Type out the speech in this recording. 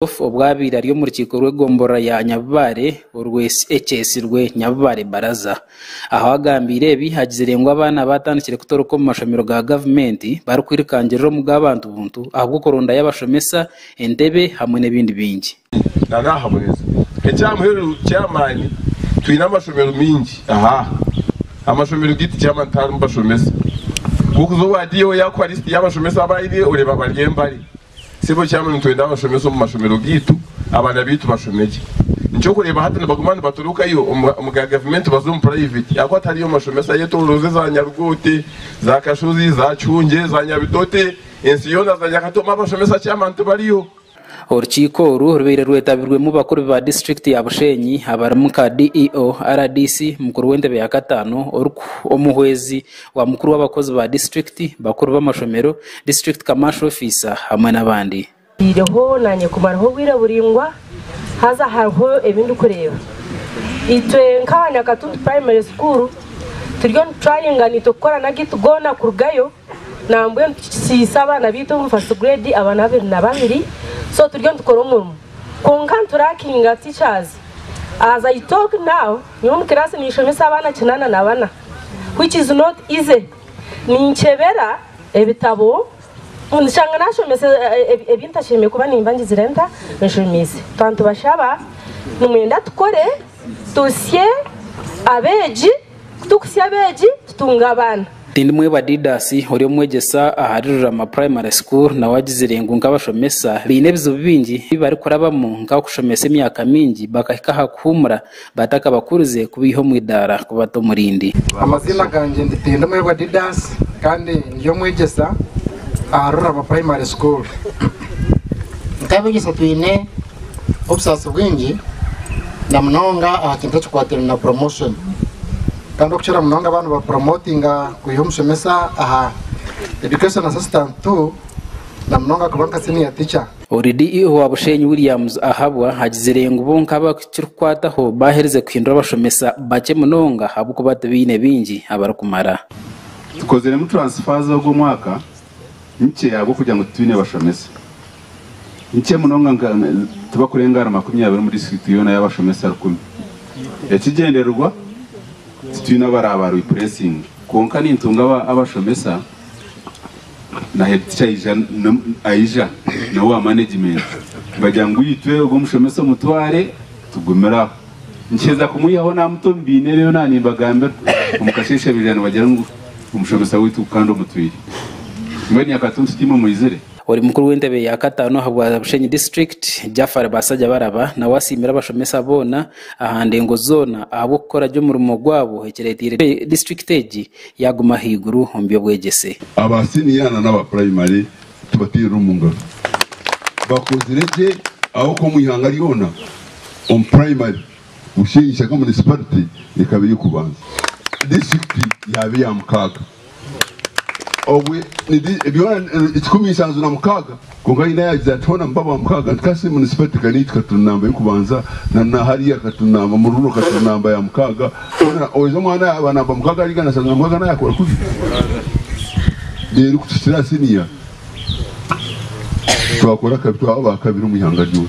Joseph obwabaire ari omu rukiiko rw'egomborora ya Nyabibaare orwe ekyetsirwe Nyabibaare Baraza. Aho agambiire ebi agizire ngu abaana baatandikire kutoroka omu mashomero ga gavumenti barikwirukangirira omu g'abantu buntu ahabw'okurondayo abashomesa, entebe hamwe n'ebindi bingi. Nari aha muhezo eky'amuheru ky'amaani twine amashomero maingi aha amashomero gaitu ky'amaani tiharimu bashomesa. Kw'okuza owa DO yaakuha lisiti y'abashomesa abu aine oreeba bari embari. Sebo Chairman nitwenda abashomesa omu mashomero gaitu abaana baitu bashome gye. Nikyokureeba hati nibaguma nibatorokayo omu ga gavumenti baza omu private ahakuba tihariyo mashomesa ayetoroze za Nyarugote, za Kashozi, za Kihungye, za Nyabitote, ensi yoona za Nyakatomi abashomesa Chairman tibariyo. Orukiiko oru rubaire rwetabirwemu bakuru ba disiturikiti ya Bushenyi abarimu nka DEO, rdc, mukuru w'entebe ya Kataano, Oruku, Omuhwezi, Wa mukuru w'abakozi ba disiturikiti, bakuru b'amashomero, disiturikiti kamaasho ofiisa hamwe n'abandi. Ntiireho naanye kumaraho bwire buraingwa haza hariho ebi ndikureeba. Itwe nk'aha Nyakatuntu Primary School turiyo niturayinga naitwe kukorana agaitu goona kurugayo nambwenu tukikitsiise abaana baitu omu first grade abana abiri na babiri so turiyo nitukora omurimo kwonka niturakinga teachers as I talk now nyowe omu kiraasi ninshomesa abaana kinana na bana. which is not easy ninkyebera ebitabo nshanga nashomesa ebintashemeire kuba nimba ngizire nta nshomiise twantubashaba nimwenda tukore tusye abeegi kutukusya abeegi tutunga abaana Tindimwebwa Didas ori omwegyesa ahari Rurama Primary School nawe agizire ngu nk'abashomesa baine ebizibu bingi ebi barikurabamu nk'akushomesa emyaka mingi bakahika aha kuhuumura batakabakurize kubaiha omu idaara kubata omu rindi. Amaziina gangye ndi Tindimwebwa Didas kandi ndi omwegyesa aha Rurabo Primary School. Nk'abegyesa twine obusaasi bwingi na munonga aha kintu ekikwataine na promotion kandi okukira munonga ba nibapromotinga kwiha omushomesa aha Education Assistant Two na munonga kuba nka Senior Teacher. Oridi Ihwa Bushenyi Williams Ahabwa agizire ngu bo nk'abakirikukwataho baaherize kuhindura abashomesa bakye munonga ahabw'okuba tibaine baingi abarikumara. Tukoziremu transfer z'ogu omwaka nkye ahabw'okugira ngu titwine bashomesa. Nkye munonga nka tibakurenga ahari makumi abiri omu district yoona y'abashomesa rukumi. Ekigyendererwa titwine abaraabareplacing kwonka nintunga abashomesa. Na head teacher aija aija na owa management nibagira ngu itwe ogu omushomesa omutware tugumire aho. Nikiheza kumwihaho namuta omu biine byona nimbagambira omu kasheshabirira nibagira ngu omushomesa witu kandi omutwire. Mbwenu nyakatuntu tiimwe mwizire? Ori mukuru w'entebe ya kataano aha bwa Bushenyi District, Jafar Basajabaraba nawe asiimire abashomesa boona aha ndengo zoona ahabw'okukora gye omurimo gwabo ekireeteire disiturikiti egi Yaaguma ahaiguru omu by'obwegyese. Aba siniya na n'aba purayimare tubateerere omu ngaro. Bakozire gye ahabw'okuba omu ihanga ryona, omu purayimare, Bushenyi Shaka Munisiparite ekaba ey'okubanza. Disiturikiti yaaba eya mukaaga. Obwe, ni di, byona, kikumi nshanju na mukaaga. Kwonka Aina yaagira ati, Hoona mubaba wa mukaaga, nti ka Simoni Sipeti ka niitu ka turi namba y'okubanza, na naahariya ka turi namba, mu ruriro ka turi namba ya mukaaga, hoona oijo omwana yaaba namba mukaaga ariga naashazana mukaaga naayakora kubi? Reero ku kikira aha siniya, twakora akabi twaba aba kabiri omu ihanga ryoona.